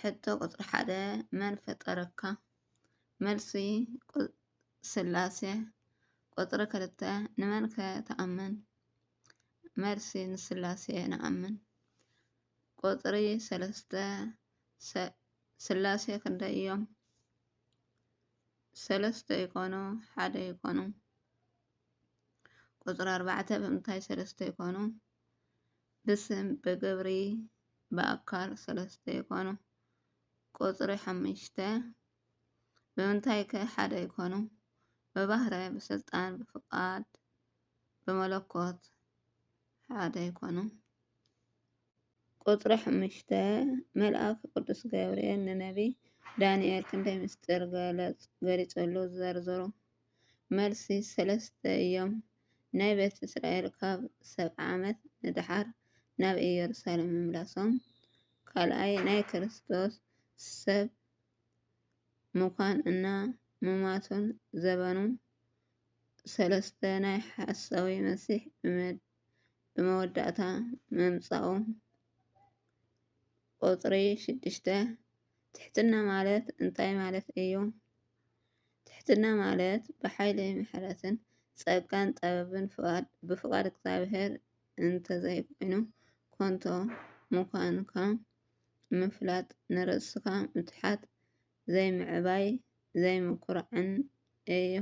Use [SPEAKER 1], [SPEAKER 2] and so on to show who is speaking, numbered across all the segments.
[SPEAKER 1] ሕቶ ቁፅሪ ሓደ መን ፈጠረካ? መልሲ፣ ስላሴ። ቁፅሪ ክልተ ንመን ከ ትኣምን? መልሲ፣ ንስላሴ ንኣምን። ቁፅሪ ሰለስተ ስላሴ ክንደይ እዮም? ሰለስተ ይኾኑ ሓደ ይኾኑ? ቁፅሪ ኣርባዕተ ብምንታይ ሰለስተ ይኾኑ? ብስም ብግብሪ ብኣካል ሰለስተ ይኾኑ። ቁፅሪ ሓሙሽተ ብምንታይ ከ ሓደ ይኾኑ? ብባህረ፣ ብስልጣን፣ ብፍቓድ፣ ብመለኮት ሓደ ይኾኑ። ቁፅሪ ሓሙሽተ መልኣክ ቅዱስ ገብርኤል ንነቢይ ዳንኤል ክንደይ ምስጢር ገሊፀሉ ዘርዝሩ? መልሲ፣ ሰለስተ እዮም። ናይ ቤት እስራኤል ካብ ሰብዓ ዓመት ንደሓር ናብ ኢየሩሳሌም ምምላሶም፣ ካልኣይ ናይ ክርስቶስ ሰብ ምዃን እና ምሟቱን ዘበኑ፣ ሰለስተ ናይ ሓሳዊ መሲሕ ብመወዳእታ ምምጻኡ፣ ቁጽሪ ሽዱሽተ፣ ትሕትና ማለት እንታይ ማለት እዩ? ትሕትና ማለት ብሓይሊ ምሕረትን ጸጋን ጥበብን ብፍቓድ እግዚኣብሔር እንተዘይኮይኑ ኮንቶ ምዃንካ ምፍላጥ ንርእስኻ ምትሓት ዘይምዕባይ ዘይምኩራዕን እዩ።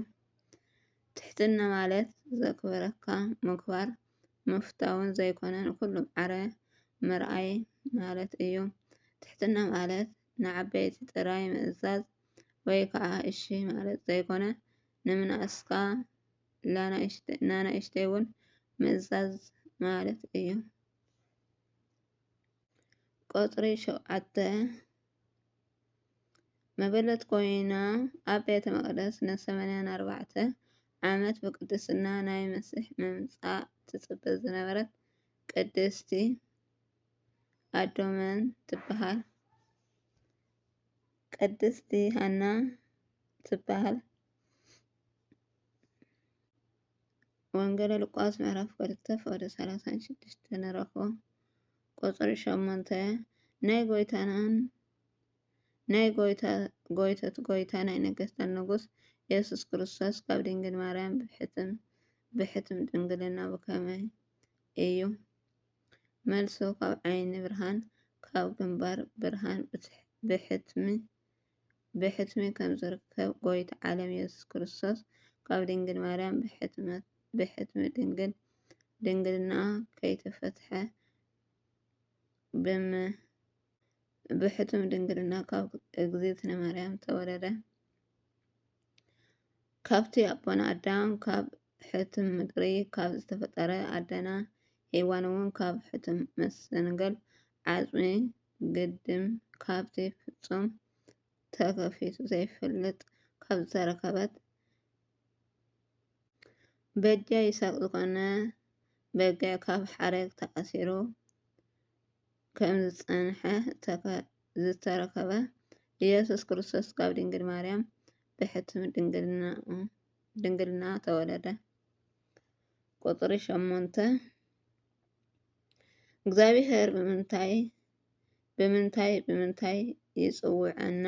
[SPEAKER 1] ትሕትና ማለት ዘክብረካ ምክባር ምፍታውን ዘይኮነ ንኩሉ ማዕረ ምርኣይ ማለት እዩ። ትሕትና ማለት ንዓበይቲ ጥራይ ምእዛዝ ወይ ከዓ እሺ ማለት ዘይኮነ ንምንእስካ ናናእሽተይ እውን ምእዛዝ ማለት እዩ። ቁፅሪ ሸውዓተ መበለት ኮይና ኣብ ቤተ መቕደስ ንሰማንያን ኣርባዕተን ዓመት ብቅድስና ናይ መስሕ ምምጻእ ትጽበ ዝነበረት ቅድስቲ ኣዶ መን ትበሃል? ቅድስቲ ሃና ትበሃል። ወንጌለ ሉቃስ ምዕራፍ ክልተ ፍቕዲ ሰላሳን ሽዱሽተን ንረኽቦ። ቁጽሪ ሸሞንተ ናይ ጎይታናን ናይ ጎይታ ጎይቶት ጎይታ ናይ ነገስታት ንጉስ የሱስ ክርስቶስ ካብ ድንግል ማርያም ብሕትም ብሕትም ድንግልና ብከመይ እዩ? መልሱ ካብ ዓይኒ ብርሃን ካብ ግንባር ብርሃን ብሕትሚ ብሕትሚ ከም ዝርከብ ጎይታ ዓለም የሱስ ክርስቶስ ካብ ድንግል ማርያም ብሕትሚ ድንግል ድንግልናኣ ከይተፈትሐ ብሕትም ድንግልና ካብ እግዝእትነ ማርያም ተወለደ። ካብቲ ኣቦና ኣዳም ካብ ሕቱም ምድሪ ካብ ዝተፈጠረ ኣደና ሄዋን እውን ካብ ሕቱም መሰንገል ዓፅሚ ግድም ካብቲ ፍፁም ተከፊቱ ዘይፈልጥ ካብ ዝተረከበት በጃ ይሳቅ ዝኮነ በጊዕ ካብ ሓረግ ተኣሲሩ ከምዝፀንሐ ዝተረከበ ኢየሱስ ክርስቶስ ካብ ድንግል ማርያም ብሕቱም ድንግልናኡ ድንግልና ተወለደ። ቁፅሪ ሸሞንተ እግዚኣብሔር ብምንታይ ብምንታይ ብምንታይ ይፅውዐና?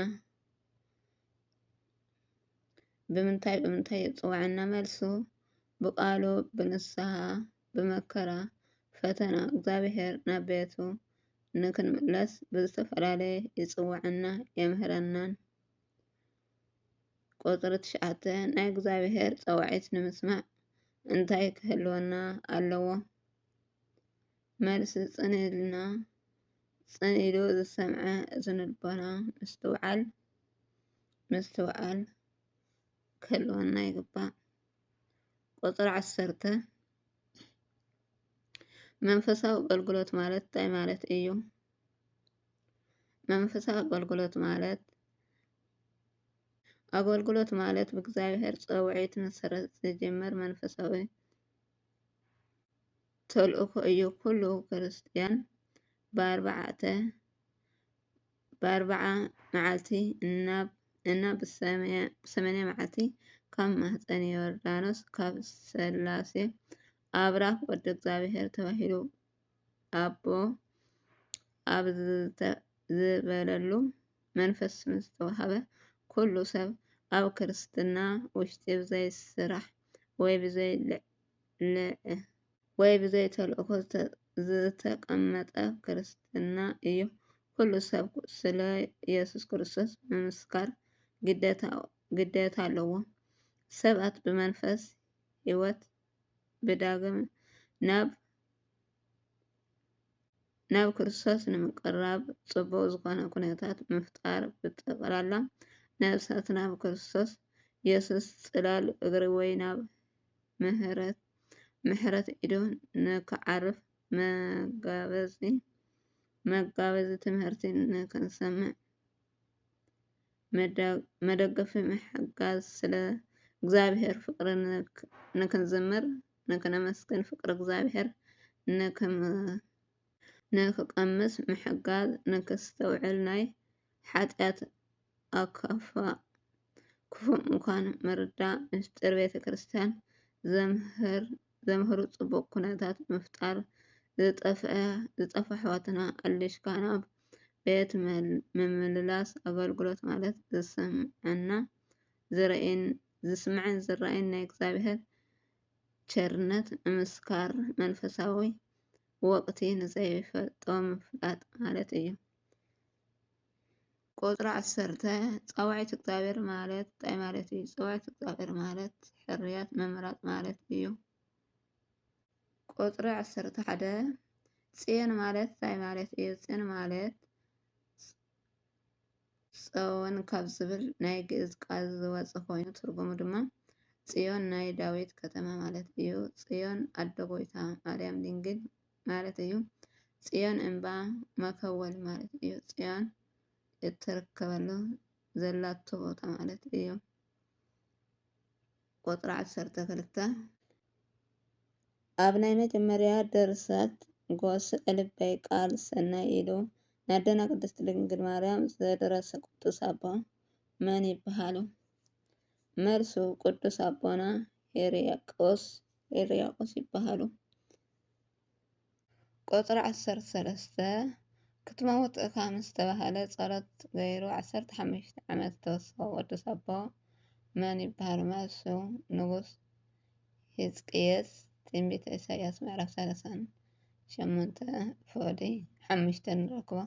[SPEAKER 1] ብምንታይ ብምንታይ ይፅውዐና? መልሱ ብቃሉ ብንስሐ ብመከራ ፈተና እግዚኣብሔር ናብ ቤቱ ንክንምለስ ብዝተፈላለየ ይፅውዐና የምህረናን ቁጽሪ ትሽዓተ ናይ እግዚኣብሔር ጸዋዒት ንምስማዕ እንታይ ክህልወና ኣለዎ? መልሲ ጽን ኢልና ጽን ኢሉ ዝሰምዐ እዝኒ ልቦና ምስትውዓል ምስትውዓል ክህልወና ይግባእ። ቁጽሪ ዓሰርተ መንፈሳዊ ኣገልግሎት ማለት እንታይ ማለት እዩ? መንፈሳዊ ኣገልግሎት ማለት ኣገልግሎት ማለት ብእግዚኣብሔር ፃውዒት መሰረት ዝጅምር መንፈሳዊ ተልእኾ እዩ። ኩሉ ክርስትያን ብኣርብዓ መዓልቲ እና ብሰማንያ መዓልቲ ካብ ማህፀን ዮርዳኖስ ካብ ሥላሴ ኣብራኽ ወዲ እግዚኣብሔር ተባሂሉ ይርከብ። ኣቦ ኣብ ዝበለሉ መንፈስ ምስ ዝተዋህበ ኩሉ ሰብ ኣብ ክርስትና ውሽጢ ብዘይ ስራሕ ወይ ብዘይ ወይ ብዘይ ተልእኮ ዝተቀመጠ ክርስትና እዩ። ኩሉ ሰብ ስለ ኢየሱስ ክርስቶስ ምምስካር ግዴታ ኣለዎ። ሰባት ብመንፈስ ሕይወት ብዳግም ናብ ናብ ክርስቶስ ንምቅራብ ጽቡቅ ዝኾነ ኩነታት ምፍጣር ብጠቅላላ ነብሳት ናብ ክርስቶስ የሱስ ጽላል እግሪ ወይ ናብ ምህረት ምሕረት ኢዱ ንክዓርፍ መጋበዚ መጋበዚ ትምህርቲ ንክንሰምዕ መደገፊ ምሕጋዝ ስለ እግዚኣብሔር ፍቅሪ ንክንዝምር ንክነመስግን ፍቅሪ እግዚኣብሔር ንክቀምስ ምሕጋዝ ንክስተውዕል ናይ ሓጥያት ኣካፋእ ክፉእ ምኳን ምርዳእ ምስጢር ቤተክርስትያን ዘምህር ዘምህሩ ፅቡቕ ኩነታት ምፍጣር፣ ዝጠፍኣ ኣሕዋትና ኣሊሽካ ናብ ቤት ምምልላስ ኣገልግሎት ማለት ዝስምዐና ዝረእየን ዝስምዐን ዝረኣይን ናይ እግዚኣብሔር ቸርነት ምምስካር መንፈሳዊ ወቅቲ ንዘይፈልጦ ምፍላጥ ማለት እዩ። ቁጽሪ ዓሰርተ ጸዋዒት እግዚኣብሔር ማለት እንታይ ማለት እዩ? ጸዋዒት እግዚኣብሔር ማለት ሕርያት ምምራጽ ማለት እዩ። ቁጽሪ ዓሰርተ ሓደ ጽዮን ማለት እንታይ ማለት እዩ? ጽዮን ማለት ጸወን ካብ ዝብል ናይ ግእዝ ቃል ዝወፀ ኮይኑ ትርጉሙ ድማ ጽዮን ናይ ዳዊት ከተማ ማለት እዩ። ጽዮን ኣደ ጎይታ ማርያም ድንግል ማለት እዩ። ፅዮን እምባ መከወል ማለት እዩ። ፅዮን እትርከበሉ ዘላቶ ቦታ ማለት እዩ። ቁፅሪ ዓሰርተ ክልተ ኣብ ናይ መጀመርያ ድርሰት ጎስ እልበይ ቃል ሰናይ ኢሉ ናደና ቅድስት ድንግል ማርያም ዘደረሰ ቅዱስ ኣቦ መን ይበሃሉ? መልሱ ቅዱስ ኣቦና ሄርያቆስ ሄርያቆስ ይበሃሉ። ቁጽሪ ዓሰርተ ሰለስተ ክትመውት እካ ምስ ተባህለ ጸሎት ገይሩ ዓሰርተ ሓሙሽተ ዓመት ዝተወሰኮ ቅዱስ ኣቦ መን ይብሃሉ? መልሱ ንጉስ ሂዝቅየስ ትንቢተ ኢሳይያስ ምዕራፍ ሰላሳን ሸሞንተ ፎሊ ሓሙሽተ ንረክቦ።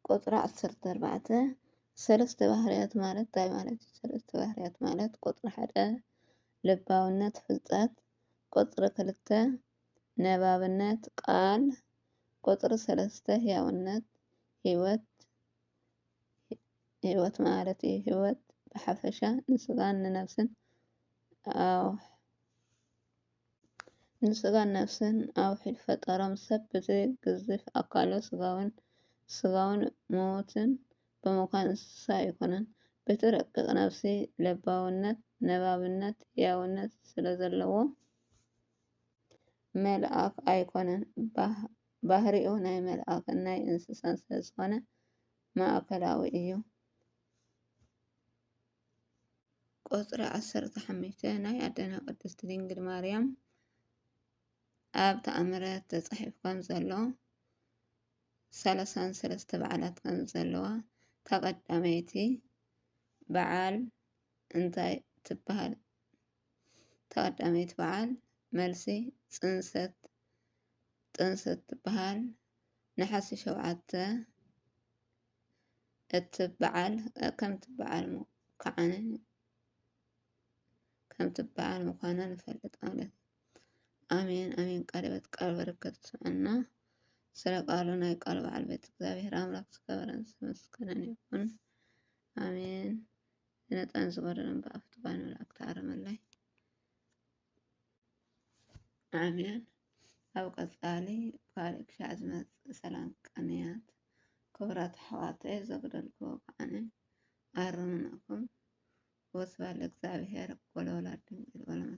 [SPEAKER 1] ቁጽሪ ዓሰርተ ኣርባዕተ ሰለስተ ባህርያት ማለት እንታይ ማለት እዩ? ሰለስተ ባህርያት ማለት ቁጽሪ ሓደ ልባውነት ፍልጠት፣ ቁጽሪ ክልተ ነባብነት ቃል፣ ቁጽሪ ሰለስተ ህያውነት ህይወት ህይወት ማለት እዩ። ህይወት ብሓፈሻ ንስጋን ንነብስን ኣዎ። ንስጋን ነፍስን ኣብ ውሕጅ ፈጠሮም፣ ሰብ በቲ ግዙፍ ኣካሉ ስጋዊን ስጋዊን ምዉትን ብምዃን እንስሳ ኣይኮነን። በቲ ረቂቕ ነፍሲ ለባውነት፣ ነባብነት፣ ህያውነት ስለ ዘለዎ መልኣኽ ኣይኮነን። ባህሪኡ ናይ መልኣኽን ናይ እንስሳን ስለ ዝኾነ ማእከላዊ እዩ። ቁጽሪ ዓሰርተ ሓሙሽተ ናይ ኣደና ቅድስት ድንግል ማርያም ኣብ ተኣምረ ተጻሒፉ ከም ዘሎ ሰለሳን ሰለስተ በዓላት ከም ዘለዋ ተቐዳመይቲ በዓል እንታይ ትበሃል? ተቐዳመይቲ በዓል መልሲ ጽንሰት ጥንሰት ትበሃል። ነሓሲ ሸውዓተ እትበዓል ከምትበዓል ከዓነ ከምትበዓል ምዃና ንፈልጥ ማለት ኣሜን ኣሜን። ቃለ ሕይወት ቃል በረከት ስምዕና ስለ ቃሉ ናይ ቃል በዓል ቤት እግዚኣብሔር ኣምላክ ዝከበረን ዝመስገነን ይኹን ኣሜን። ዝነጠን ዝጎደለን ብኣፍቱ ባይ ንብላዕ ክተኣረመላይ ኣሜን። ኣብ ቀጻሊ ብካልእ ክሻዕ ዝመጽእ ሰላም ቅንያት ክብራት ኣሕዋተይ ዘጉደልክዎ ከዓነ ኣርምናኹም ወስብሐት ለእግዚኣብሔር ወለወላዲቱ ድንግል ወለመስቀሉ